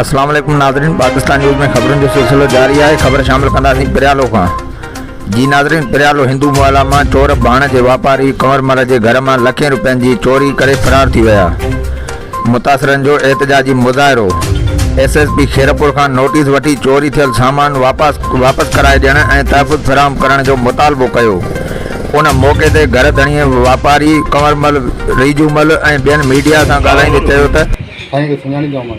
اسلام عليڪم ناظرين پاڪستان نيوز ۾ خبرن جو سلسلو جاري آهي خبر شامل ڪنداسين پريالو کان جي ناظرين پريالو هندو محلا مان چور ڀاڻ جي واپاري ڪنور مل جي گهر مان لکين روپين جي چوري ڪري فرار ٿي ويا متاثرن جو احتجاجي مظاهرو، ايس ايس پي خيرپور کان نوٽيس وٺي چوري ٿيل سامان واپس واپس ڪرائي ڏيڻ ۽ تحفظ فراهم ڪرڻ جو مطالبو ڪيو، ان موقعي تي گهر ڌڻيء واپاري ڪنورمل ريجومل ۽ ٻين ميڊيا سان ڳالهائيندي چيو ته. سائين کي سڃاڻيندو آهيان مان.